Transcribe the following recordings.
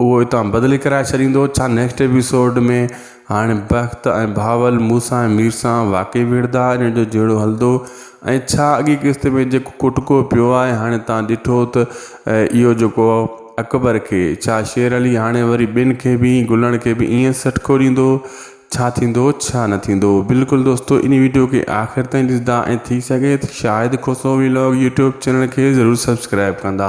اهو اتان بدلي ڪرائي ڇڏيندو ڇا نيڪسٽ ايپيسوڊ ۾ هاڻي بخت ۽ بهاول مون سان ۽ مير سان واقعي وڙهندا ان جو جهيڙو هلندو ۽ ڇا اڳي قسط ۾ جيڪو ڪٽڪو پيو آهي هاڻي تان ڏٺو ته اهو جيڪو اڪبر کي ڇا شير علي هاڻي وري ٻين کي به ائين گلڻ کي به ائين سٽڪو ڏيندو ڇا ٿيندو ڇا نه ٿيندو بلڪل دوستو ان ويڊيو کي آخر تائين ڏسندا ۽ ٿي سگهي ته Shahid Khoso vlog YouTube channel کي ضرور سبسڪرائب ڪندا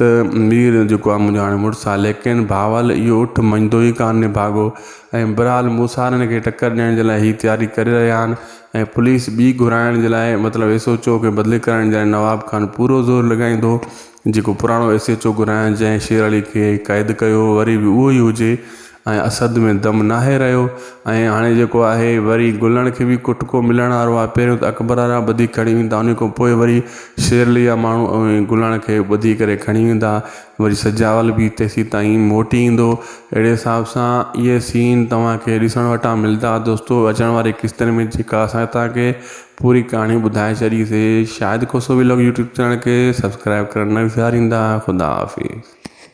ته مير جيڪو آهي منهنجو هاڻي مڙس آهي ليڪن بهاول اهو اٺ مڃيندو ئي ڪانه نڀاڳو ۽ برحال موسارن کي ٽڪر ڏيڻ جي لاء هي تياري ڪري رهيا آهن ۽ پوليس ٻي گهرائڻ جي لاء مطلب ايس ايچ او کي بدلي ڪرائڻ جي لاء نواب خان پورو زور لڳائيندو جيڪو پراڻو ايس ايچ او گهرايان جنهن شير علي کي قيد ڪيو وري به اهو ئي هجي ۽ اسد ۾ دم ناهي رهيو ۽ هاڻي جيڪو آهي وري گلڻ کي به ڪٽڪو ملڻ وارو آهي پهريون ته اڪبر وارا ٻڌي کڻي ويندا ان کان پوء وري شيرلي جا ماڻهو اوهين گلڻ کي ٻڌي ڪري کڻي ويندا وري سجاول به تيسيتائين موٽي ايندو اهڙي حساب سان اهي سين توهان کي ڏسڻ وٽان ملدا دوستو اچڻ واري قسطن ۾ جيڪا اسان توهان کي پوري ڪهاڻي ٻڌائي ڇڏي سي Shahid Khoso vlog YouTube channel کي سبسڪرائب ڪرڻ نه وساريندا خدا حافظ